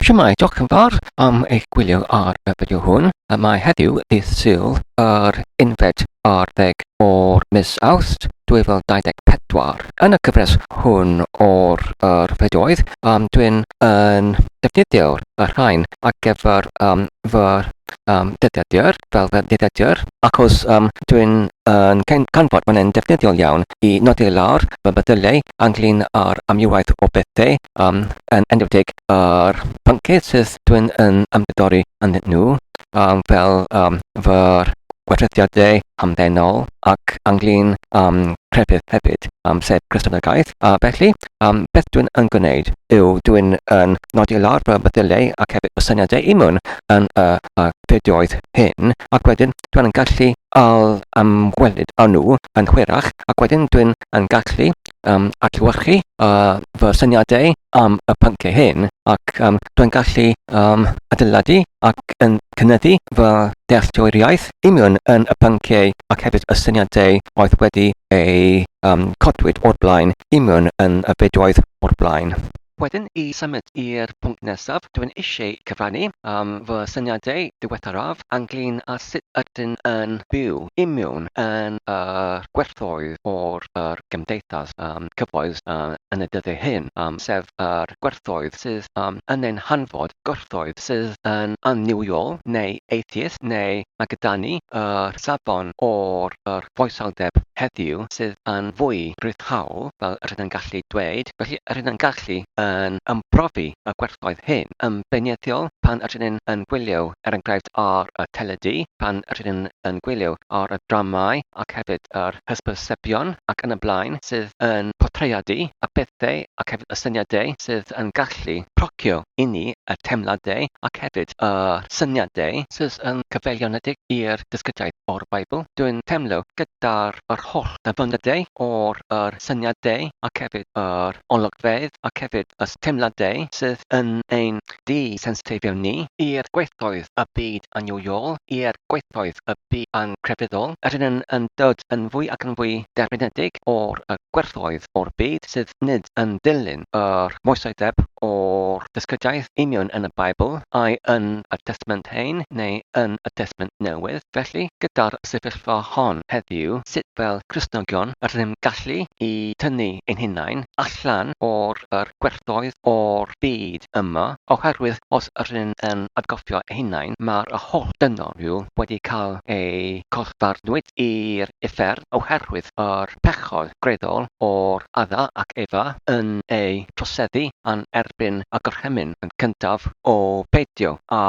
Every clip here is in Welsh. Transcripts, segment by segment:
Shwmae, diolch yn fawr am eich gwylio ar y fideo hwn. A mae heddiw dydd Sul yr unfed ar ddeg o'r mis Awst 2024. Yn y cyfres hwn o'r yr fideoedd, um, dwi'n yn defnyddio'r y rhain ar gyfer um, fy um, dyddiadur, fel fy dyddiadur, achos um, dwi'n yn canfod mae'n yn defnyddiol iawn i nodi lawr fy meddyliau ynglyn â'r amrywiaeth o bethau um, yn enwedig ar pynciau sydd dwi'n yn ymgydori yn nhw, um, fel um, fy gwerthusiadau hamddenol ac anglyn um, crefydd hefyd, um, sef Cristnogaeth. A felly, um, beth dwi'n yn gwneud yw dwi'n yn nodi lawr fy meddyliau ac hefyd fy syniadau i mewn yn y uh, fideoedd hyn, ac wedyn dwi'n yn gallu al ymwelyd â nhw yn hwyrach, ac wedyn dwi'n yn gallu um, adlewyrchu uh, fy syniadau am y pynciau hyn ac um, dwi'n gallu um, adeiladu ac yn cynyddu fy dealltwriaeth union yn y pynciau ac hefyd y syniadau oedd wedi ei um, codwyd o'r blaen union yn y fideoedd o'r blaen. Wedyn i symud i'r pwnc nesaf, dw i'n eisiau cyfrannu am fy syniadau diweddaraf ynglŷn â sut ydyn yn byw i mewn yn y gwerthoedd o'r yr gymdeithas cyfoes yn y dyddiau hyn, sef yr gwerthoedd sydd yn ein hanfod, gwerthoedd sydd yn annuwiol neu atheist neu ma' gyda ni yr safon o'r yr foesawdeb heddiw sydd yn fwy rhyddhaol, fel yr ydym yn gallu dweud, felly yr ydym yn gallu yn ymbrofi y gwerthoedd hyn. Yn beirniadiol, pan yr ydym yn gwylio, er enghraifft, ar y teledu, pan yr ydym yn gwylio ar y dramâu ac hefyd yr hysbysebion ac yn y blaen sydd yn portreadu y pethau ac hefyd y syniadau sydd yn gallu gallu procio i ni y teimladau ac hefyd y syniadau sydd yn gyfeiliornedig i'r dysgyddiaeth o'r Beibl. Dwi'n teimlo gyda'r yr holl ddyfyniadau o'r yr syniadau ac hefyd yr olygfeydd ac hefyd y teimladau sydd yn ein di-sensiteiddio ni i'r gweithdoedd y byd annuwiol, i'r gweithdoedd y byd angrefyddol. Rydyn yn yn dod yn fwy ac yn fwy derfynedig o'r y gwerthoedd o'r byd sydd nid yn dilyn yr moesau deb o'r dysgyddiaeth union yn y Beibl, ai yn y Testament Hen neu yn y Testament Newydd. Felly, gyda'r sefyllfa hon heddiw, sut fel Cristnogion yr ydym gallu i tynnu ein hunain allan o'r yr gwerthoedd o'r byd yma, oherwydd os yr ydym yn atgofio ein hunain mae'r y holl dynol rhyw wedi cael eu collfarnwyd i'r uffern oherwydd yr pechod. gweithredol o'r Adda ac Efa yn eu troseddu yn erbyn y gorchymyn yn cyntaf o beidio â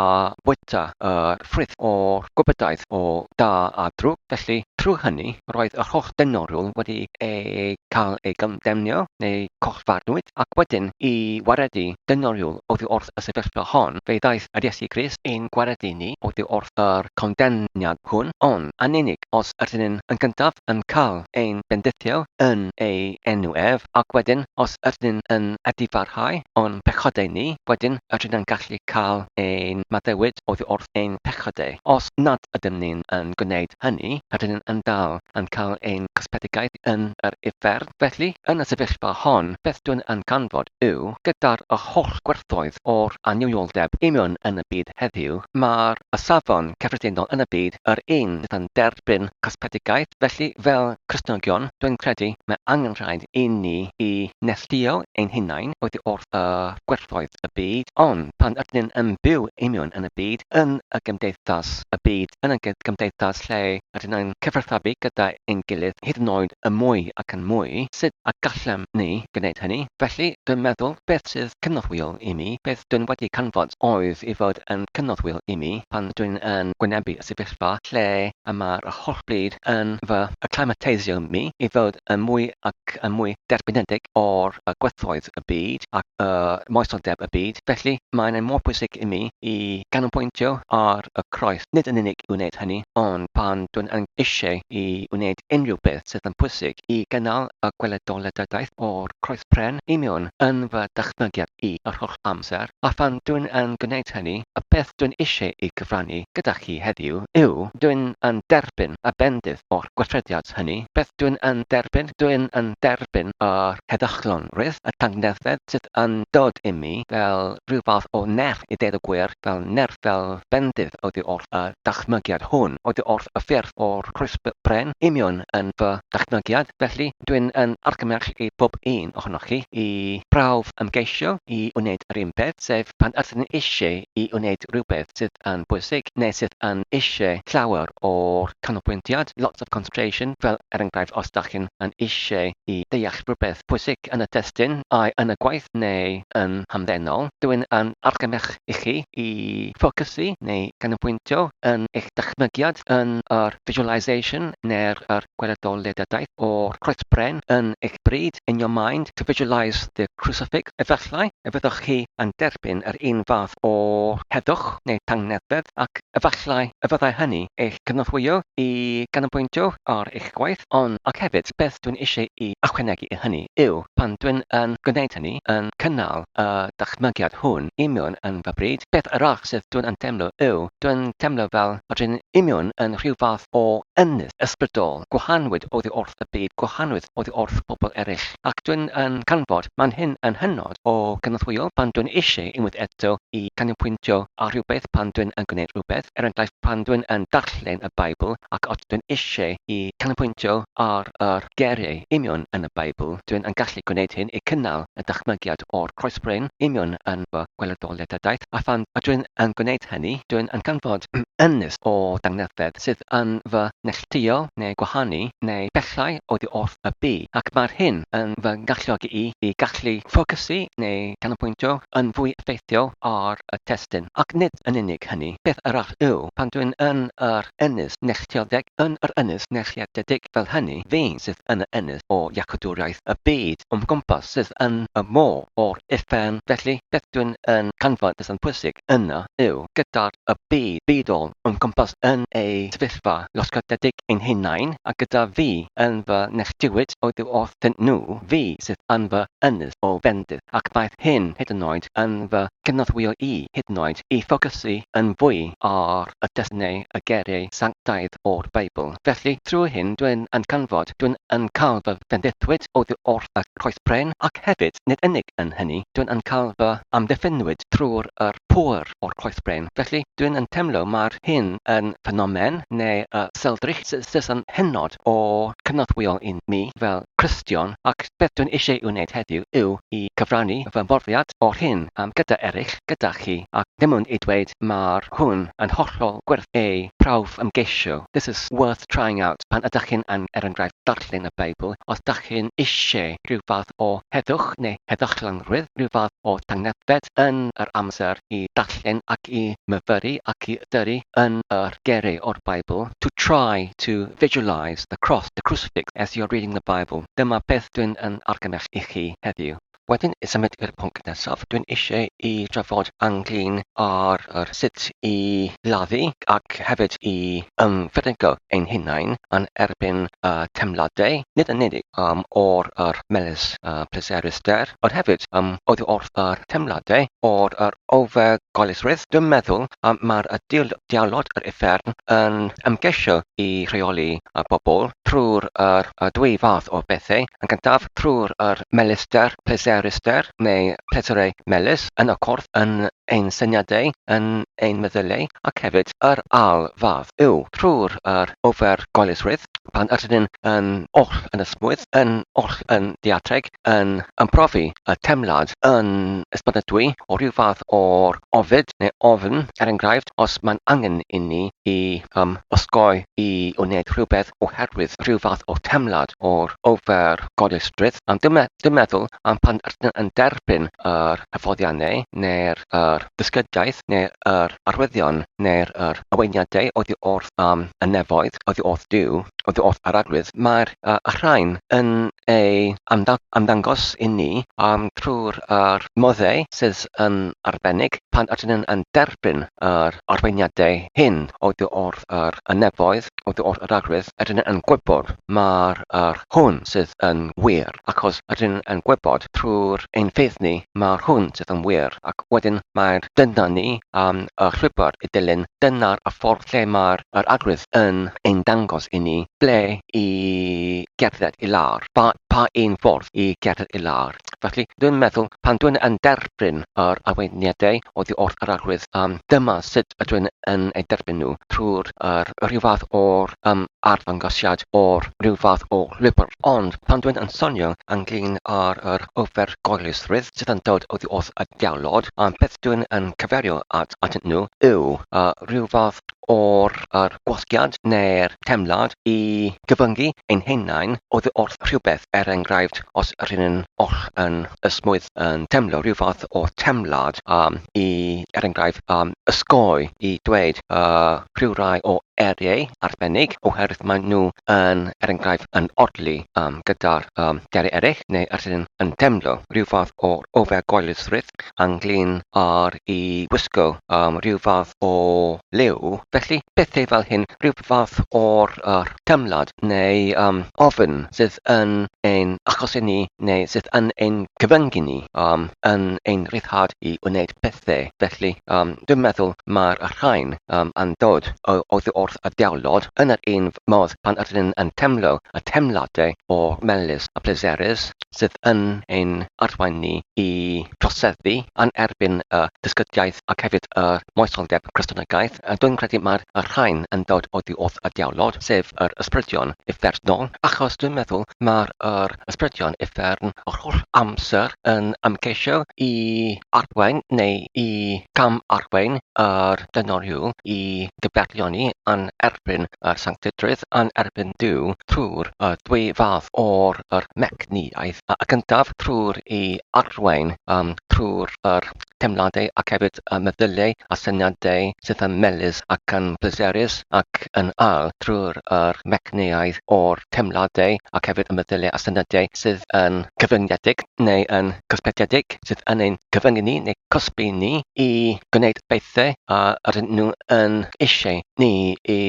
bwyta yr ffrwyth o'r gwybodau o da a drwg, felly, trwy hynny, roedd yr holl dynoriwl wedi eu cael eu condemnio, neu collfarnwyd, ac wedyn, i waredu dynoriwl oddi wrth y sefyllfa hon, fe ddaeth yr Iesu Grist i'n gwaredu ni oddi wrth yr condemniad hwn, ond yn unig os Rydyn ni, yn gyntaf, yn cael ein bendithio yn ei enw ef, ac wedyn, os ydyn ni yn adifarhau o'n pechodau ni, wedyn rydyn ni'n gallu cael ein maddeuwyd oddi wrth ein pechodau. Os nad ydym ni'n yn gwneud hynny, rydyn ni yn dal yn cael ein cysbedigaeth yn yr uffern. Felly, yn y sefyllfa hon, beth dwi'n yn canfod yw, gyda'r holl gwerthoedd o'r annuwioldeb imiwn yn y byd heddiw, mae'r a safon cyffredinol yn y byd yr un sydd yn derbyn cosbedigaeth, felly fel Cristnogion dwi'n credu mae angen rhaid i ni i neilltuo ein hunain oddi wrth y gwerthoedd y byd, ond pan ydyn ni yn byw union yn y byd, yn y gymdeithas, y byd, yn y gymdeithas lle rydyn ni'n cyfathrebu gyda ein gilydd hyd yn oed yn mwy ac yn mwy, sut y gallem ni gwneud hynny? Felly dwi'n meddwl beth sydd cynorthwyol i mi, beth dwyn wedi canfod oedd ei fod yn cynorthwyol i mi pan dwyn yn gwynebu y sefyllfa lle y mae'r holl bryd yn fy acclimateisio mi i fod yn mwy ac yn mwy derbynedig o'r gwerthoedd y byd ac y moesoldeb y byd. Felly, mae'n ei mor bwysig i mi i ganolbwyntio ar y Croes, nid yn unig i wneud hynny, ond pan dwyn yn eisiau i wneud unrhyw beth sydd yn pwysig, i gynnal y gweledolledyddaeth o'r croespren i mewn yn fy dychmygiad i yr holl amser, a phan dwi'n yn gwneud hynny, y peth dwi'n eisiau ei gyfrannu gyda chi heddiw yw, dwi'n yn derbyn y bendith o'r gweithrediad hynny. Beth dwi'n yn derbyn? Dwi'n yn derbyn yr heddychlonrwydd, y tangnefedd sydd yn dod imi fel rhyw fath o nerth i ddeud y gwir, fel nerth, fel bendith oddi wrth y ddychmygiad hwn oddi wrth y ffyrdd o'r croesb bren, union yn fy ddychmygiad, felly dwi'n yn argymell i bob un ohonoch chi i brawf ymgeisio i wneud yr un peth, sef pan ydyn ni eisiau i wneud rhywbeth sydd yn bwysig neu sydd yn eisiau llawer o'r canolbwyntiad, lots of concentration, fel er enghraifft os dach chi'n yn eisiau i ddeall rhywbeth pwysig yn y testun, ai yn y gwaith neu yn hamddenol, dwi'n yn argymell i chi i ffocysu neu ganolbwyntio yn eich dychmygiad yn yr visualisation neu'r yr gweledol ledadaeth o'r croesbren yn eich bryd, in your mind, to visualise the crucifix. Efallai y fyddwch chi yn derbyn yr un fath o heddwch neu tangnefedd ac efallai y fyddai hynny eich cynorthwyo i ganolbwyntio ar eich gwaith ond ac hefyd beth dwi'n eisiau i ychwanegu i hynny yw pan dwi'n yn gwneud hynny yn cynnal y dychmygiad hwn i mewn yn fy bryd, peth arall sydd dwi'n yn teimlo yw, dwi'n teimlo fel fod rhywun i mewn yn rhyw fath o ynys ysbrydol, gwahanwyd oddi wrth y byd, gwahanwyd oddi wrth pobl eraill, ac dwi'n yn canfod man hyn yn hynod o gynorthwyol pan dwi'n eisiau unwaith eto i ganolbwyntio ar rhywbeth pan dwi'n yn gwneud rhywbeth, er enghraifft pan dwi'n yn darllen y Beibl ac os dwi'n eisiau i canolbwyntio ar yr geiriau i mewn yn y Beibl, dwi'n yn gallu. ei gwneud hyn i gynnal y dychmygiad o'r croesbryn union yn fy ngwelydoliadadaeth, a phan ydw i'n gwneud hynny, dw i'n canfod ynys o dangnefedd sydd yn fy neilltuo neu gwahanu neu bellhau oddi wrth y bu, ac mae'r hyn yn fy ngalluogi i i gallu ffocysu neu ganolbwyntio yn fwy effeithiol ar y testun. Ac nid yn unig hynny, peth arall yw, pan dw i'n yr Ynys Nechtioddeg yn yr Ynys Nechiadedig fel hynny fein sydd yn y ynys o Iacadwriaeth y byd o'm gwmpas sydd yn y môr o'r uffern felly beth dwi'n yn canfod beth sy'n pwysig yna yw gyda'r y byd bydol o'm cwmpas yn ei sefyllfa losgadedig ein hunain a gyda fi yn fy nechdiwyd oddi wrthyn nhw fi sydd yn fy ynys o fendith ac daeth hyn hyd yn oed yn fy cynorthwyo i hyd yn oed i ffocysu yn fwy ar y Dull neu y Geiriau Sanctaidd o'r Beibl. Felly, trwy hyn dwi'n yn canfod, dwi'n yn cael fy fendithwyd oddi wrth y Croes Bren, ac hefyd, nid unig yn hynny, dwi'n yn cael fy amddiffynwyd trwy'r yr pŵer o'r Croes Bren. Felly, dwi'n yn teimlo mai'r hyn yn ffenomen, neu y seldrych, sydd yn hynod o cynorthwyol i ni fel Cristion, ac Beth dwi'n eisiau ei wneud heddiw yw i gyfrannu fy mhrofiad o'r hyn am gyda eraill gyda chi ac ddim ond i dweud ma'r hwn yn hollol werth ei prawf ymgeisio this is worth trying out pan ydach chi'n yn er enghraifft darllen y Beibl os dach chi'n eisiau rhyw fath o heddwch neu heddychlonrwydd rhyw fath o tangnefedd yn yr amser i darllen ac i myfyru ac i ystyru yn yr geiriau o'r Beibl to try to visualise Christ, the Cross, the Crucifix as you're reading the Bible, dyma beth dwi'n yn argymell i chi heddiw. Wedyn i symud i'r pwnc nesaf, dwi'n eisiau i drafod ynglyn â'r yr sut i laddu ac hefyd i ymfyrygo ein hunain yn erbyn y teimladau, nid yn unig um, o'r yr melys uh, pleserus der, ond hefyd um, oddi wrth yr teimladau o'r yr ofergoelesrwydd, dwi'n meddwl y mae'r y dial dialod yr uffern yn ymgeisio i rheoli y bobl trwy'r yr y dwy fath o bethau, yn gyntaf trwy'r yr melyster pleseryster neu pleserau melys yn y corff yn ein syniadau, yn ein meddyliau, ac hefyd yr ail fath yw trwy'r yr ofergoelesrwydd pan ydyn yn oll yn ysmwyth, yn oll yn ddiatreg, yn ymprofi a theimlad yn esbonadwy o ryw fath o ofid neu ofn, er enghraifft, os mae'n angen inni i um, osgoi i wneud rhywbeth oherwydd rhyw fath o theimlad o'r ofer gofrestrwydd, am ddim, ddim meddwl am pan rydyn yn derbyn yr hyfforddiannau neu'r yr ddysgediaeth neu'r arwyddion neu'r yr arweiniadau oddi wrth um, y nefoedd, oddi wrth Duw, oddi wrth yr arwydd, mae'r y rhain yn ei ymddangos i ni trwy'r moddau sydd yn arbennig pan ydyn nhw'n ein derbyn yr arweiniadau hyn oddi wrth yr nefoedd, oddi wrth yr arwydd, ydyn nhw yn gwybod mai'r hwn sydd yn wir, achos ydyn nhw yn gwybod trwy'r ein ffydd ni mai'r hwn sydd yn wir, ac wedyn mae dyna ni am y llwybr i ddilyn, dyna'r ffordd lle mae'r arwydd yn ein dangos i ni Ble i gerdded i lawr? Pa, pa un ffordd i gerdded i lawr? Felly, dwi'n meddwl, pan dwi'n yn derbyn yr arweiniadau oddi wrth yr Arglwydd, um, dyma sut ydw i'n yn eu derbyn nhw, trwy'r yr rhyw fath o'r um, arddangosiad o'r rhyw fath o lwybr. Ond pan dwi'n yn sonio ynglyn â'r yr ofergoelesrwydd sydd yn dod oddi wrth y diawlod, um, beth dwi'n yn cyferio at atynt nhw yw uh, rhyw fath o'r a'r gwasgiad neu'r teimlad i gyfyngu ein hunain oddi wrth rhywbeth, er enghraifft, os ry'n ni'n oll yn ysmwyth yn teimlo rhyw fath o teimlad am i, er enghraifft, am osgoi i dweud y rhyw rai o eiriau arbennig oherwydd maen nhw yn, er enghraifft, yn odli um, gyda'r um, geiriau eraill, neu os ry'n ni'n teimlo rhyw fath o ofergoelysrwydd ynglyn â'r i wisgo um, rhyw fath o liw. Felly, pethau fel hyn, rhyw fath o'r uh, teimlad neu um, ofyn sydd yn ein achosi ni neu sydd yn ein cyfyngu ni um, yn ein rhyddhad i wneud pethau. Felly, um, dwi'n meddwl mae'r rhain um, yn dod o, oddi wrth y diawlod yn yr un modd pan ydyn ni'n yn teimlo y teimladau o melus a pleserus sydd yn ein arwain ni i troseddu yn erbyn y dysgyddiaeth ac hefyd yr moesoldeb Cristnogaeth, dwi'n credu mae'r rhain yn dod oddi wrth y diawlod, sef yr ysbrydion uffernol, achos dwi'n meddwl mae'r yr ysbrydion uffern yr holl amser yn ymgeisio i arwain neu i gam-arwain yr dynoriwl i gyfeirioni yn erbyn yr sanctidrwydd, yn erbyn Duw, trwy'r y ddwy fath o'r yr mecniaeth. y gyntaf trwy'r i arwain yym trwy'r yr teimladau ac hefyd y meddyliau a syniadau sydd yn melys ac yn pleserus ac yn ail trwy'r yr mecnïaeth o'r teimladau ac hefyd y meddyliau a syniadau sydd yn gyfyngedig neu yn gysbethedig sydd yn ein cyfyngu ni neu cosbi ni i gwneud bethau a rydyn nhw yn eisiau ni i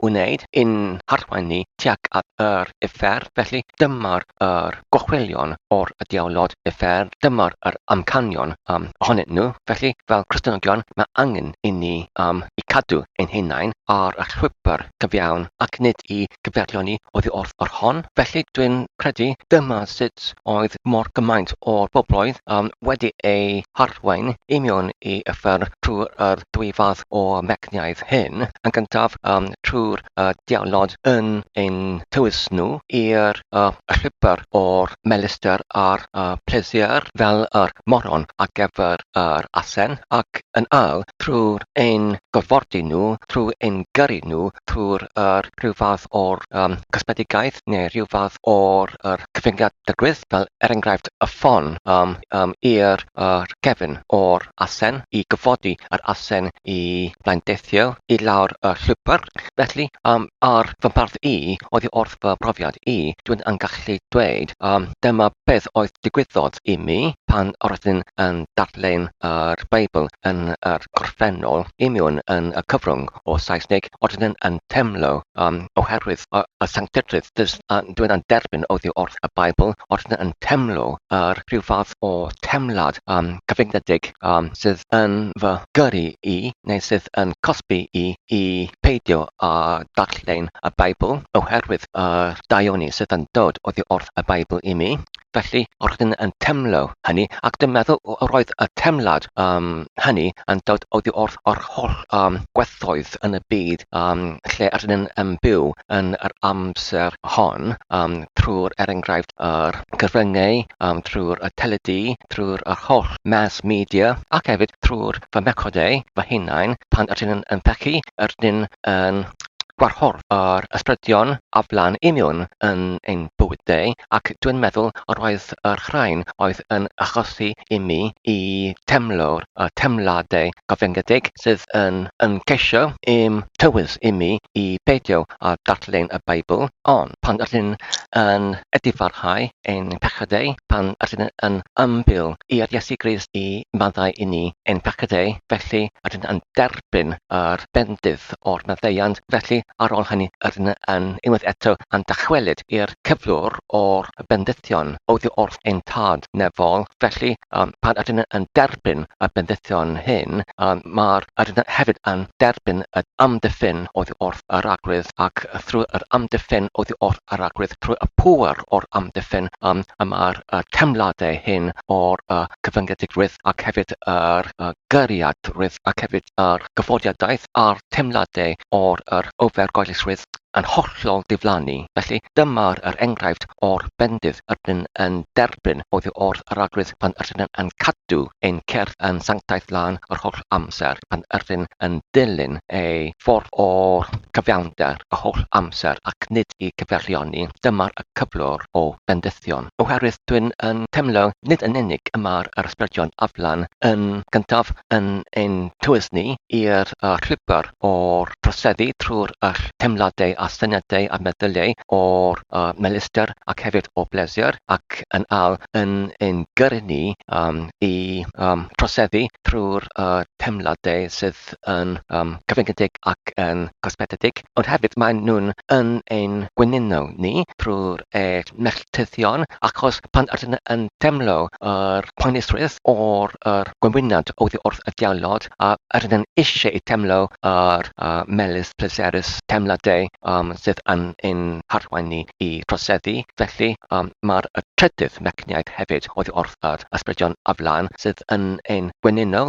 wneud i'n harwain ni tuag at yr uffern felly dyma'r yr gorchwylion o'r diawlod uffern, dyma'r yr amcanion um, ohonyn nhw, felly, fel Cristnogion, mae angen i ni um, i cadw ein hunain ar y llwybr cyfiawn ac nid i gyfeirlioni oddi wrth yr hon. Felly, dwi'n credu dyma sut oedd mor gymaint o'r bobloedd um, wedi ei harwain i mewn i yffern trwy'r yr dwy fath o fecniaeth hyn, yn gyntaf um, trwy'r y diawnod yn ein tywys nhw i'r y rhibr o'r melistr a'r y pleser fel yr moron ar gyfer yr asen ac yn ail trwy'r ein gorfodi nhw, trwy ein gyrru nhw trwy'r yr rhyw fath o'r y cosmedigaeth neu rhyw fath o'r yr cyfyngiad dygwydd fel er enghraifft y ffon yym yym i'r y cefn o'r asen i gyfodi yr asen i Mae'n deithio i lawr y llwybr, felly um, ar fy mharth i, oddi wrth fy mhrofiad i, dwi'n yn gallu dweud um, dyma beth oedd digwyddodd i mi pan roeddwn yn darllen yr Beibl yn yr gorffennol i miwn yn y cyfrwng o Saesneg roeddwn yn teimlo um, oherwydd y, y sanctedrwydd dys, uh, dwi'n yn derbyn oddi wrth y Beibl roeddwn yn teimlo yr rhyw fath o teimlad um, cyfyngedig um, sydd yn fy gyrru i, neu sydd yn cosbi i, i peidio â darllen y Beibl oherwydd y daioni sydd yn dod oddi wrth y Beibl i mi. Felly, roeddwn yn teimlo hynny, ac dwi'n meddwl roedd y teimlad um, hynny yn dod oddi wrth yr holl um, gwerthoedd yn y byd um, lle rydyn yn byw, yn yr amser hon um, trwy'r er enghraifft yr cyfryngau, um, trwy'r y teledu, trwy'r yr holl mass media ac hefyd trwy'r fy mechodau fy hunain pan ydyn nhw'n yn pechu, ydyn yn gwarhorf yr ysbrydion aflan i miwn yn ein bywydau ac dwi'n meddwl yr oedd yr rhain oedd yn achosi i mi i temlo'r a theimladau cyfyngedig sydd yn yn ceisio i'm tywys i mi i beidio â darllen y Beibl, ond pan r'yn yn edifarhau ein pechadau, pan r'yn yn ymbil i'r Iesu Grist i maddau i ni ein pechadau, felly r'yn yn derbyn yr bendith o'r maddeuant, felly ar ol hynny r'yn yn unwaith eto yn dychwelyd i'r cyflwr o'r bendithion oddi wrth ein Tad nefol, felly, pan ydyn yn derbyn y bendithion hyn, mae'r ydyn hefyd yn derbyn yr amddiffyn oddi wrth yr arglwydd, ac thrwy yr amddiffyn oddi wrth yr arglwydd, trwy y pŵer o'r amddiffyn, y mae'r teimladau hyn o'r cyfyngedig-rwydd ac hefyd yr gyrriad-rwydd ac hefyd yr gyforiadaeth a'r teimladau o'r yr ofergoelesrwydd yn hollol diflannu, felly dyma yr enghraifft o'r bendith rydyn yn derbyn oddi wrth yr Arglwydd pan rydyn yn cadw ein cyrff yn sanctaidd lân yr holl amser, pan rydyn yn dilyn ei ffordd o'r cyfiawnder y holl amser ac nid i gyferlioni, dyma'r cyflwr o bendithion, oherwydd dwi'n yn teimlo nid yn unig y mae'r ysbrydion aflan yn gyntaf yn ein tywys ni i'r llwybr o'r troseddu trwy'r teimladau a syniadau a meddyliau o'r melistr ac hefyd o bleser, ac yn ail yn ein gyrru ni i troseddu trwy'r teimladau sydd byth yn gyfyngedig ac yn gosbededig, ond hefyd maen nhw'n yn ein gwyninno ni drwy'r eich melltithion achos pan ydyn yn teimlo yr poenusrwydd o'r yr gwenwynant oddi wrth y diawlod a ydyn yn eisiau i teimlo yr uh, melys pleserus teimladau um, sydd yn ein harwain ni i troseddu. Felly um, mae'r trydydd mecniaid hefyd oddi wrth yr ysbrydion aflan sydd yn ein gwenynno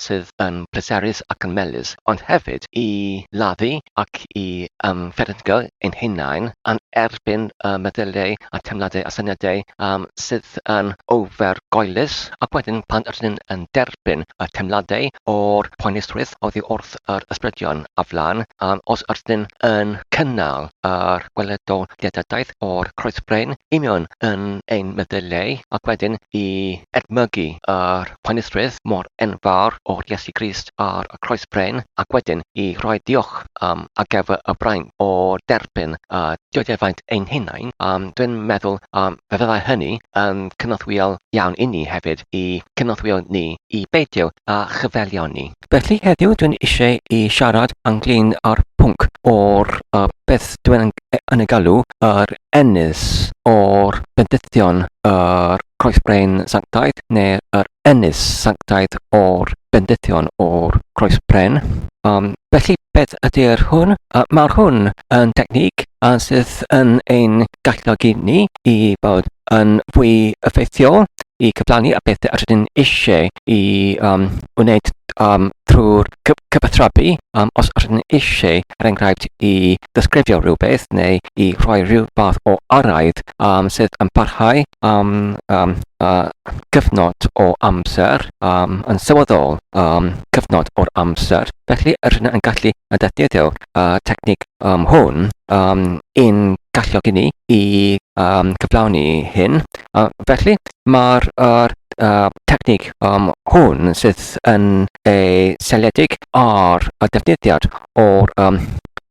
sydd yn pleserus ac yn melys, ond hefyd i lafu ac i ymfferyllgo ein hunain yn erbyn y meddyliau a teimladau a syniadau sydd yn ofergoelus ac wedyn pan ydyn ni yn derbyn y teimladau o'r poenusrwydd oddi wrth yr ysbrydion a flaen, os ydyn ni yn cynnal yr gweledoliadadaeth o'r croesbrein union yn ein meddyliau ac wedyn i edmygu yr Penrhydd mor enfawr o'r Iesu Grist ar y Croes Bren ac wedyn i roi diolch am ar gyfer y braint o derbyn y diodefaint ein hunain, yym, dwi'n meddwl yym, fe fyddai hynny yn cynorthwyol iawn inni hefyd i cynorthwyo ni i beidio â chyfeillion ni. Felly heddiw dwi'n eisiau i siarad ynglyn â'r pwnc o'r uh, beth dwi'n yn ei galw yr ennis o'r bendithion yr croesbrein sanctaidd neu'r er ennis sanctaidd o'r bendithion o'r croesbrein. Um, felly Beth ydy'r hwn? Uh, Mae'r hwn yn technic a sydd yn ein galluogi ni i bod yn fwy effeithiol i cyflawni a beth yr ydyn eisiau i um, wneud um, trwy'r cyfathrebu um, os yr ydyn eisiau, er enghraifft, i ddysgrifio rhywbeth neu i rhoi rhyw fath o araith um, sydd yn parhau um, um, uh, cyfnod o amser um, yn sylweddol um, cyfnod o'r amser. Felly, yr hyn yn gallu yn defnyddio uh, technig um, hwn um, yn galluogi ni i um, cyflawni hyn. Uh, felly, mae'r er, uh, technig um, hwn sydd yn ei seliedig ar y defnyddiad o'r um,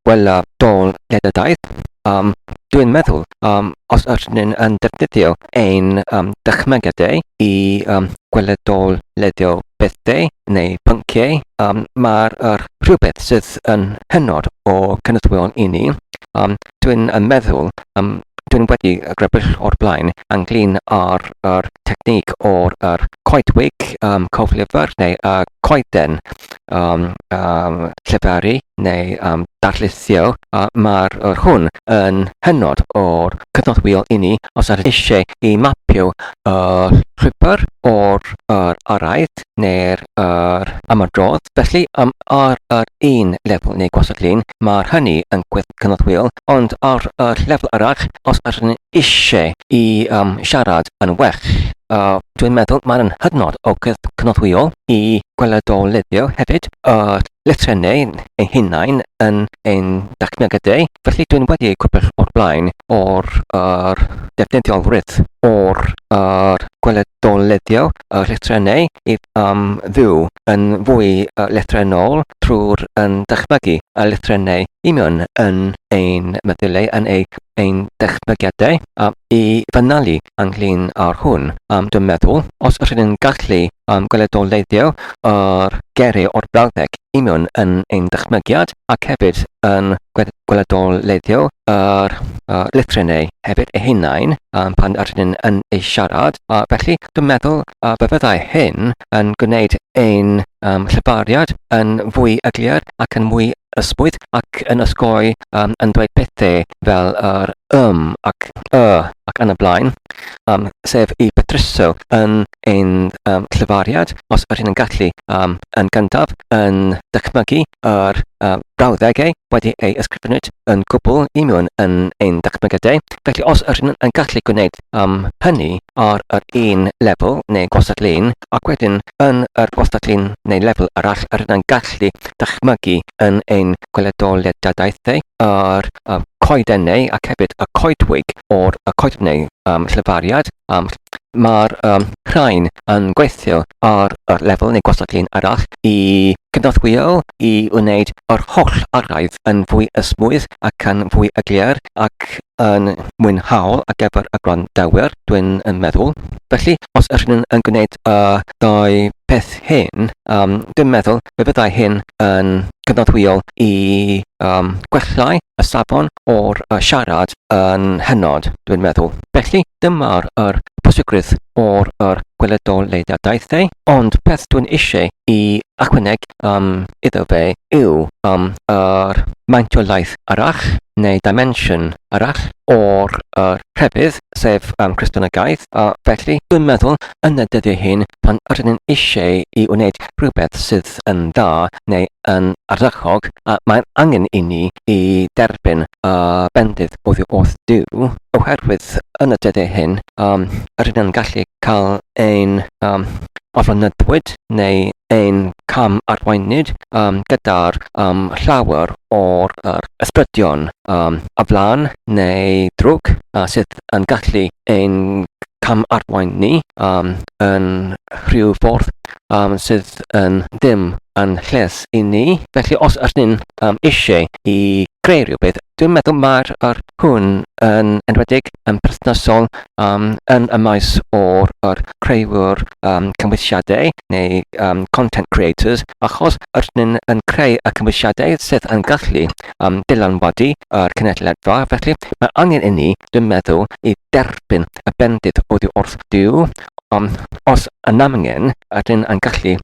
wella dol ledydau. Um, dwi'n meddwl, um, os ydyn yn defnyddio ein um, dychmygadau i um, gweledol ledio bethau neu pynciau, um, mae'r er rhywbeth sydd yn hynod o cynyddwyol i ni. Um, dwi'n meddwl, um, dwi'n wedi grybwyll o'r blaen ynglyn â'r er technig o'r er coedwig, um, coflyfr neu uh, coeden um, um, llefaru neu um, darllithio, a mae'r yr hwn yn hynod o'r cyfnodwyol i ni os ydych eisiau i mapio y llwybr o'r yr araith neu'r yr ymadrodd. Felly, um, ar yr un lefel neu gwasod lun, mae'r hynny yn gweithio'n cyfnodwyol, ond ar y lefel arall, os ydych eisiau i um, siarad yn well. Uh, dwi'n meddwl mae'n hynod o gynorthwyol i gweledolyddio hefyd y uh, llythrennau ein hunain yn ein dacnegydau, felly dwi'n wedi ei gwybod o'r blaen o'r er, defnyddiolrwydd o'r er, gweledoleddio y llythrennau i am fyw yn fwy llythrennol trwy'r yn dychmygu y llythrennau union yn ein meddyliau, yn ei ein dychmygiadau, a i fynalu ynglyn â'r hwn. Um, dwi'n meddwl, os rydyn ni'n gallu um, gweledoleiddio yr gerri o'r brawddeg union yn ein dychmygiad ac hefyd yn gweledoleiddio yr uh, llythrennau hefyd eu hunain um, pan rydyn yn ei siarad, a felly Dwi'n meddwl y byddai hyn yn gwneud ein lleoliad yn fwy eglur ac yn fwy ysbwydd ac yn osgoi yn dweud pethau fel yr 'ym' ac 'y' ac yn y blaen, sef y petruso yn ein lleoliad, os yr hyn yn gallu, yn gyntaf, yn dychmygu yr brawddegau wedi eu ysgrifennu yn gwbl union yn ein dychmygiadau, felly os yr hyn yn gallu gwneud am hynny ar yr un lefel neu gwastad-lun ac wedyn yn yr wastad-lun neu lefel arall rydyn yn gallu dychmygu yn ein gweledoliadadaethau yr y coedennau ac hefyd y coedwig o'r y coedwig um, llyfariad um, mae'r um, rhain yn gweithio ar yr lefel neu gwastad-lun arall i cynorthwyo i wneud yr holl araidd yn fwy ysmwydd ac yn fwy yglir ac yn mwynhaol ar gyfer y gwrandawyr, dwi'n yn meddwl. Felly, os ydych chi'n yn gwneud y dau peth hyn, um, dwi'n meddwl fe fyddai hyn yn cyfnodwyol i um, gwellai y safon o'r uh, siarad yn hynod, dwi'n meddwl. Felly, dyma'r er pwysigrwydd o'r er gweledoleudiadaethau, ond peth dwi'n eisiau i achwaneg um, iddo fe yw um, yr maint o laeth arall neu dimension arall o'r yr rhefydd, sef um, Christianagaeth, a felly dwi'n meddwl yn y dyddiau hyn pan rydyn ni'n eisiau i wneud rhywbeth sydd yn dda neu yn ardderchog, a mae'n angen i ni i derbyn y bendith oddi wrth Duw, oherwydd yn y dyddiau hyn um, rydyn ni'n gallu cael ein um, ofynyddwyd neu ein cam-arweinwyd um, gyda'r um, llawer o'r er, ysbrydion um, o flan neu drwg uh, sydd yn gallu ein cam-arwain ni um, yn rhyw ffordd um, sydd yn ddim yn lles i ni. Felly os ydyn um, eisiau i greu rhywbeth, dwi'n meddwl mae'r er, hwn yn enwedig yn perthnasol um, yn y maes o'r, or creuwr um, cymwysiadau neu um, content creators achos yr nhw'n yn creu y cymwysiadau sydd yn gallu um, dylanwadu yr cynulleidfa felly mae angen i ni dwi'n meddwl i derbyn y bendith oddi wrth Duw Ond os yn angen, rydyn yn gallu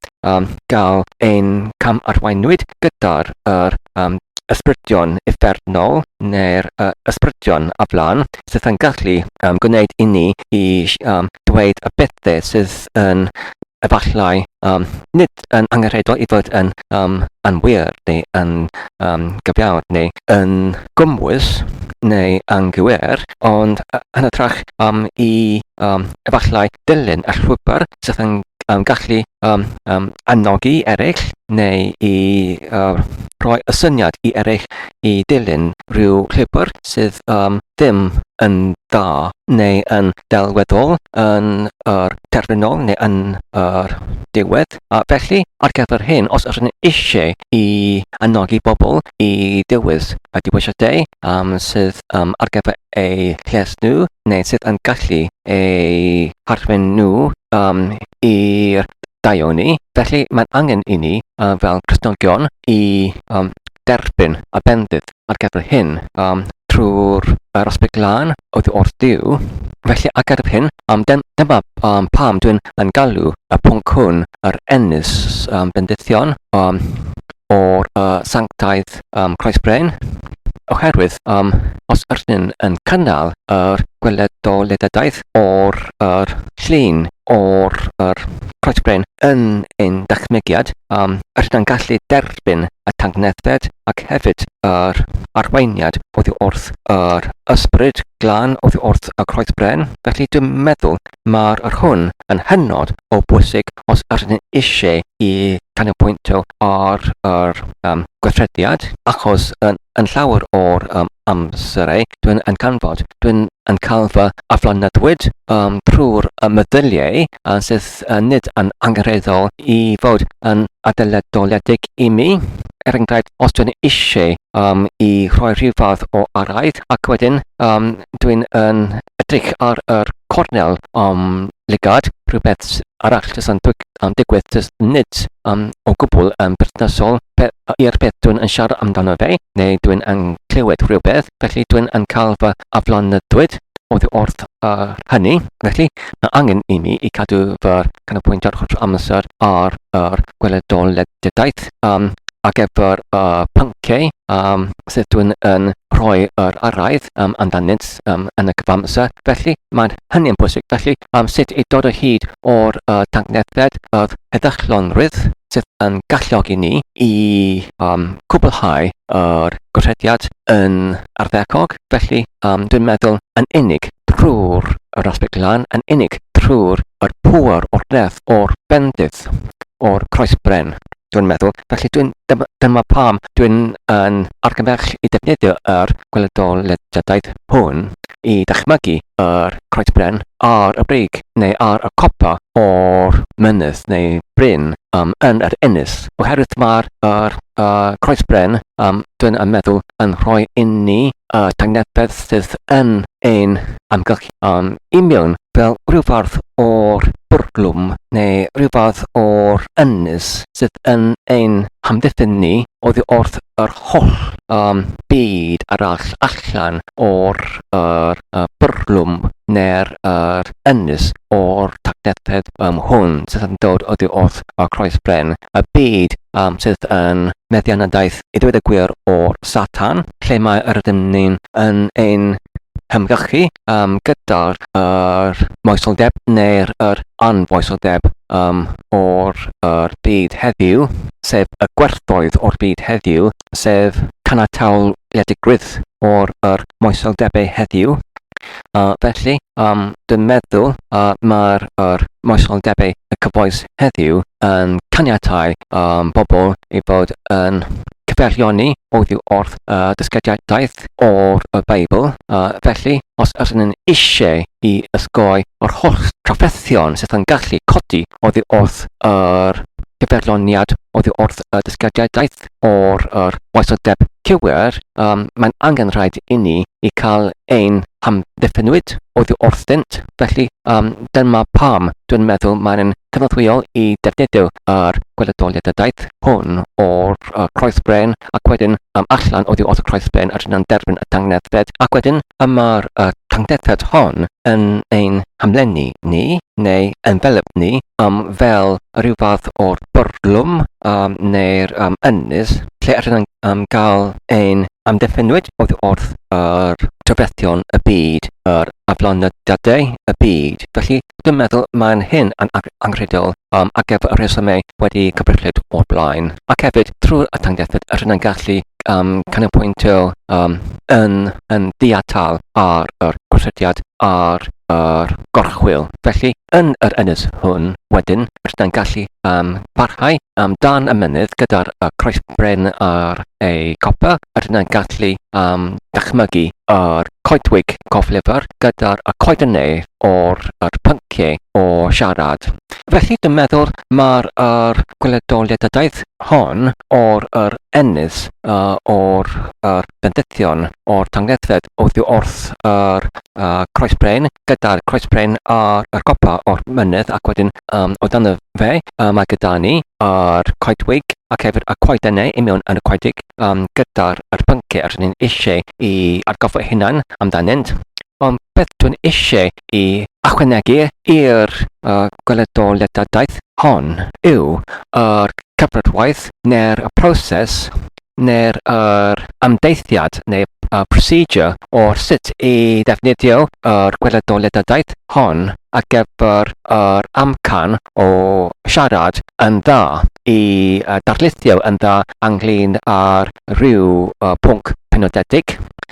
cael ein cam-arweinwyd gyda'r yr ysbrydion uffernol neu'r ysbrydion aflan sydd yn gallu gwneud i ni i ddweud y pethau sydd yn efallai nid yn angenrheidiol i fod yn um, anwir neu yn um, gyfiawn neu yn gymwys neu anghywir, ond yn hytrach um, i um, efallai dilyn y llwybr sydd yn um, gallu um, um, annogi eraill neu i uh, rhoi y syniad i eraill i dilyn rhyw llwybr sydd um, ddim yn dda neu yn delweddol yn yr terfynol neu yn yr diwedd. A felly, ar gyfer hyn, os ydyn ni eisiau i anogi bobl i dewis y diwysiadau um, sydd um, ar gyfer eu lles nhw neu sydd yn gallu eu harwen nhw um, i'r daioni, felly mae'n angen i ni uh, fel Christnogion i um, derbyn y bendith. ar gyfer hyn, um, trwy'r yr aspect lan oedd wrth Duw. Felly, ac ar hyn, um, dyn, dyma um, pam dwi'n yn galw y pwnc hwn yr ennis um, bendithion um, o'r uh, sanctaidd um, Christ Brain, oherwydd um, os ydyn yn cynnal yr gweledoliadaeth o'r yr llun o'r yr Croet Bren yn ein dychmygiad, um, rydyn gallu derbyn y tangnefedd ac hefyd yr arweiniad oddi wrth yr ysbryd glân oddi wrth y Croet Bren. Felly dwi'n meddwl mae'r yr hwn yn hynod o bwysig os rydyn eisiau i canolbwyntio ar yr um, gweithrediad, achos yn, yn llawer o'r um, amserau dwi'n yn canfod, dwi'n yn cael fy aflonyddwyd um, trwy'r meddyliau uh, sydd uh, nid yn angenrheidiol i fod yn adeladoledig i mi. Er enghraifft, os dwi'n eisiau um, i rhoi rhyw fath o araidd, ac wedyn um, dwi'n yn edrych ar yr cornel um, lygad, rhywbeth arall sy'n yn digwydd jyst nid yn o gwbl yn berthnasol pe ai'r peth dwi'n yn siarad amdano fe, neu dwi'n yn clywed rhywbeth, felly dwi'n yn cael fy aflonydwyd oddi wrth yr hynny, felly mae angen i mi i cadw fy canolbwyntio'r holl amser ar yr gweledoledigaeth um, ar gyfer y pynciau um, sydd dwi'n yn rhoi yr araith um, amdanynt. system yn y cyfamser, felly mae'n hynny'n bwysig. Felly, um, sut i dod o hyd o'r uh, tangnefedd yr heddychlonrwydd sydd yn galluogi ni i um, cwblhau yr gorthrediad yn arddecog. Felly, um, dwi'n meddwl yn unig trwy'r yr aspect lan, yn unig trwy'r yr pŵer o'r nerth, o'r bendith, o'r croesbren. dwi'n meddwl. Felly dwi'n... dym- dyma pam dwi'n yn argymell i ddefnyddio yr gweledolediadau hwn i ddychmygu yr Croet Bren ar y brig neu ar y copa o'r mynydd neu bryn um, yn yr ynys. Oherwydd mae'r er, uh, Croes Bren, um, dwi'n yn meddwl, yn rhoi inni uh, tangnefedd sydd yn ein amgylch Yn union fel rhyw fath o'r bwrlwm neu rhyw fath o'r ynys sydd yn ein hamddiffyn ni oddi wrth yr holl um, byd arall allan o'r er, uh, bwrlwm neu'r er, ynys o'r tacnethedd um, hwn sydd yn dod oddi wrth y croes bren, y byd um, sydd yn meddianadaeth i ddweud y gwir o'r Satan, lle mae yr ydym ni'n yn ein hymgyrchu um, gyda'r er moesoldeb neu'r er anfoesoldeb um, o'r er byd heddiw, sef y gwerthoedd o'r byd heddiw, sef canatawliedigrwydd o'r er moesoldebau heddiw, a felly, am dy meddwl a mae'r yr moesoldebau y cyfoes heddiw yn caniatáu um, bobl i fod yn cyfeirioni oddi wrth y uh, dysgediadaeth o'r y Beibl, a felly, os ydyn nhw'n eisiau i ysgoi o'r holl trafferthion sydd yn gallu codi oddi wrth yr cyfeirioniad oddi wrth y dysgediadaeth, o'r yr oesoldeb cywir, um, mae'n angen rhaid inni i cael ein hamddiffynwyd oddi wrthynt, felly um, dyma pam dwi'n meddwl mae'n cynorthwyol i defnyddio yr gweledoliadadaeth hwn o'r uh, croesbren ac wedyn um, allan oddi wrth y croesbren yr yna'n derbyn y tangnethfed ac wedyn y mae'r uh, tangnethfed hon yn ein hamlenni ni neu envelopni um, fel rhyw fath o'r bwrlwm um, neu'r um, ynys lle allwn ni um, gael ein amddiffynwyd oedd wrth yr trafethion y byd, yr aflonydiadau y byd. Felly, dwi'n meddwl mae'n hyn yn anghredol um, ac ef y rhesymau wedi cyfrillid o'r blaen. Ac hefyd, trwy'r atangiaethyd, rydyn ni'n gallu um, canolbwyntio um, yn yn ddiatal ar yr gosodiad ar yr gorchwyl. Felly, yn yr ynys hwn, wedyn, rydyn gallu um, parhau am dan y mynydd gyda'r y croesbren ar ei copa, rydyn gallu um, dychmygu yr coedwig coflifr gyda'r y coeden nef o'r yr pynciau o siarad. Felly, dwi'n meddwl mae'r er, gwledoliadadaeth hon o'r er, ennill, uh, o'r er, bendithion, o'r tangnethfed oddi wrth yr uh, croesbrein, gyda'r croesbrein a'r er, copa o'r mynydd ac wedyn um, o dan y fe, uh, mae gyda ni a'r coedwig ac hefyd y coedennau i mewn yn y coedig um, gyda'r er, pynciau rydyn ni'n eisiau i argoffa hunan amdanynt. Ond beth dwi'n eisiau i ychwanegu i'r gweledoliadadaeth hon yw yr cyfnodwaith neu'r proses neu'r yr ymdeithiad neu y procedure o sut i ddefnyddio yr gweledoliadadaeth hon ar gyfer yr amcan o siarad yn dda, i darlithio yn dda ynglŷn â'r rhyw pwnc penodedig,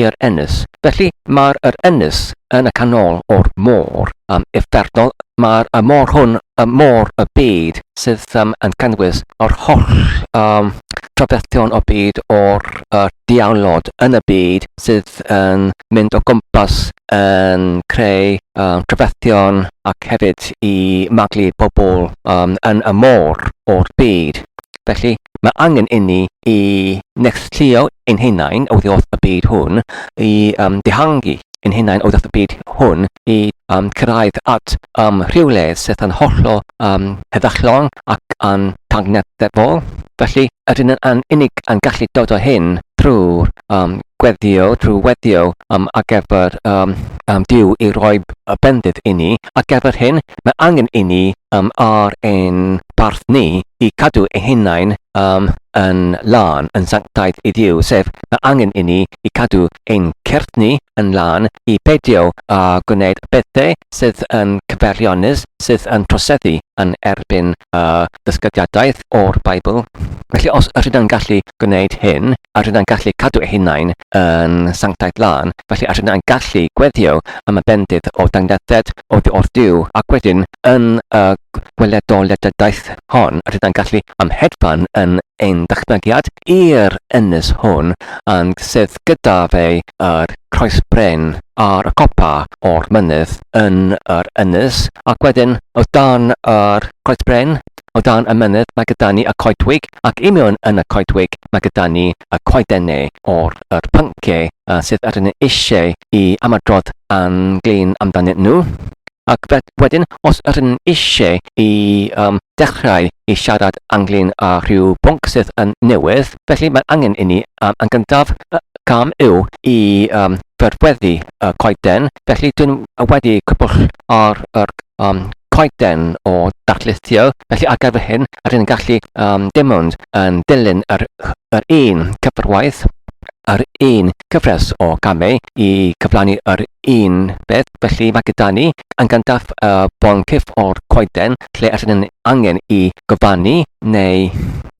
i'r ynys. Felly, mae'r yr ynys yn y canol o'r môr, am iferddol, mae'r y môr hwn y môr y byd sydd um, yn cynnwys yr holl um, trafferthion o byd o'r y diawlod yn y byd sydd yn mynd o gwmpas yn creu um, trafferthion ac hefyd i maglu pobl um, yn y môr o'r byd. Felly, mae angen inni i neilltuo ein hunain oddi wrth y byd hwn, i um, dihangu ein hunain oddi wrth y byd hwn, i um, cyrraedd at um, rhywle sydd yn hollol um, heddychlon ac yn tangnefol. Felly, ydyn yn unig yn gallu dod o hyn trwy'r um, gweddio, trwy weddio um, ar gyfer um, um, diw i roi y bendith i ni. Ar gyfer hyn, mae angen i ni um, ar ein barth ni i cadw ein hunain um, yn lân, yn sanctaidd i Dduw, sef, mae angen i ni i cadw ein cyrff ni yn lân, i beidio â uh, gwneud bethau sydd yn cyfeirionus, sydd yn troseddu yn erbyn uh, dysgydiadaeth o'r Beibl. Felly os ydyn ni'n gallu gwneud hyn, a rydyn ni'n gallu cadw ei hunain yn sanctaidd lân, felly a rydyn ni'n gallu gweddio am y bendith o dangnethed oddi wrth Duw, ac wedyn, yn y gweledoledigaeth hon, rydan gallu amhedfan yn ein dychmygiad i'r ynys hwn a'n sydd gyda fe yr croes bren ar y copa o'r mynydd yn yr ynys, ac wedyn, o dan yr croes bren, O dan y mynydd mae gyda ni y coedwig, ac i mewn yn y coedwig mae gyda ni y coedenne o'r yr pyncie yy sydd yr ni eisiau i ymadrodd yn glin amdanyn nhw. Ac fe- wedyn, os yr ni'n eisiau i yym dechrau i siarad ynglyn â rhyw bwnc sydd yn newydd, Felly, mae angen inni, yn gyntaf, y cam yw i fedweddhu y coeden, felly dyn nhw wedi cwpwll ar yr coeden o darlithio, felly ar gyfer hyn, rydyn ni'n gallu um, dim ond yn dilyn yr, yr un cyfrwaith, yr un cyfres o gamau i cyflawni yr un beth. Felly mae gyda ni yn gyntaf uh, bon cyff o'r coeden, lle allan yn angen i gofanu neu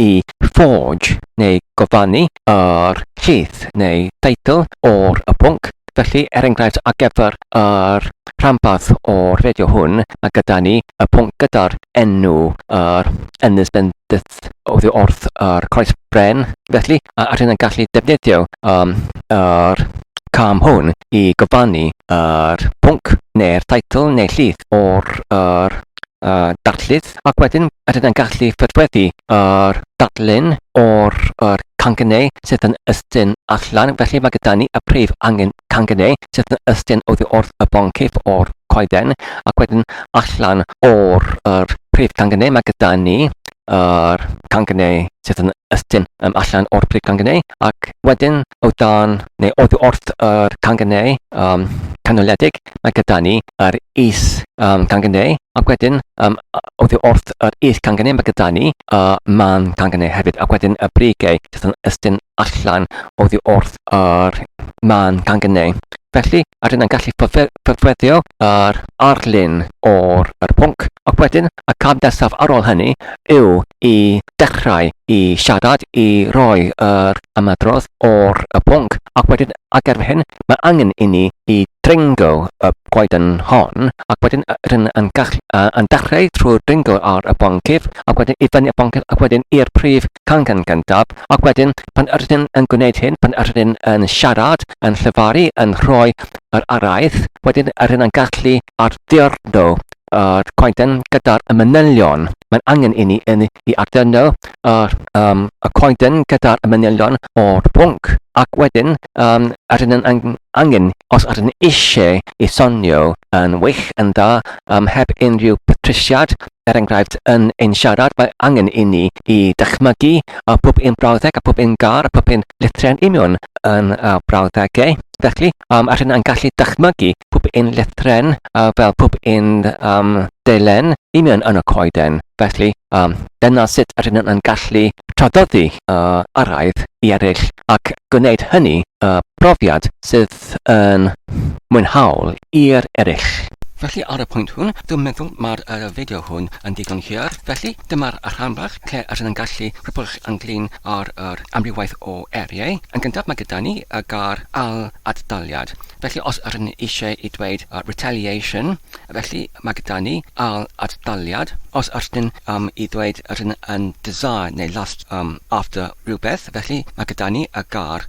i forge neu gofanu yr lleith neu teitl o'r y pwnc. Felly, er enghraifft, ar gyfer yr rhanbarth o'r fideo hwn, mae gyda ni y pwnc gyda'r enw yr ynys yn oddi wrth yr coes bren, felly a ydyn yn gallu defnyddio um, yr cam hwn i gyfannu yr pwnc neu'r teitl neu llith o'r yr, uh, darllydd ac wedyn ydyn yn gallu ffurfweddu yr darllen o'r yr cangynnau sydd yn ystyn allan felly mae gyda ni y prif angen cangynnau sydd yn ystyn oddi wrth y bon cif o'r coeden ac wedyn allan o'r yr prif cangynnau mae gyda ni yr cangen neu sydd yn ystum yym allan o'r prig cangen neu ac wedyn o dan neu oddi wrth yr cangen neu yym canoledig mae gyda ni yr is yym cangen neu ac wedyn yym oddi wrth yr is cangen neu mae gyda ni y man cangen neu hefyd ac wedyn y brigau sydd yn ystum allan oddi wrth yr man cangen neu. Felly, a rynnai'n gallu ffurfweddio yr arlun o'r yr pwnc, ac wedyn y cam nesaf ar ôl hynny yw i dechrau i siarad, i roi yr ymadrodd o'r y pwnc, ac wedyn ac erbyn hyn mae angen i ni i dringo y goeden hon, ac wedyn rydyn yn, gall, uh, yn dechrau trwy dringo ar y boncyff, ac wedyn i fyny y boncyff, ac wedyn i'r prif cangen gyntaf, Ac wedyn, pan yr ydyn yn gwneud hyn, pan yr ydyn yn siarad, yn llefaru, yn rhoi yr araith, wedyn yr ydyn yn gallu ardurno yr coeden gyda'r manylion. Mae'n angen i ni yn i ardurno yr, um, y coeden gyda'r manylion o'r pwnc. Ac wedyn, um, yr ydyn yn angen, os yr ydyn eisiau i sonio yn wych, yn dda, um, heb unrhyw patrisiad, er enghraifft, yn ein siarad, mae angen inni i ddychmygu pob un brawddeg a phob un gar a phob un lithre'n union yn brawddegau. Felly, um, a rhywun yn gallu dychmygu pob un lithre'n uh, fel pob un um, delen union yn y coeden. Felly, um, dyna sut a rhywun yn gallu tradoddi uh, araidd i eraill ac gwneud hynny uh, profiad sydd beth yn mwynhaol i'r eraill. Felly ar y pwynt hwn, dwi'n meddwl mae'r fideo hwn yn ddigon hir, felly dyma'r rhan bach lle rydyn yn gallu rhybuddio ynglŷn â'r amrywiaeth o eiriau. Yn gyntaf mae gyda ni y gair ail-ad-daliad, felly os rydyn ni eisiau i dweud retaliation, felly mae gyda ni ail-ad-daliad. Os rydyn um, i ddweud rydyn yn desire neu lust um, after rhywbeth, felly mae gyda ni y gair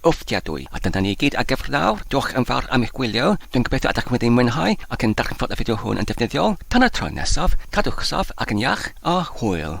Fforddiadwy. A dyna ni i gyd ar gyfer nawr, diolch yn fawr am eich gwylio, dwi'n gobeithio ydych wedi mwynhau ac yn darganfod y fideo hwn yn ddefnyddiol, tan y tro nesaf, cadwch saff ac yn iach, a hwyl!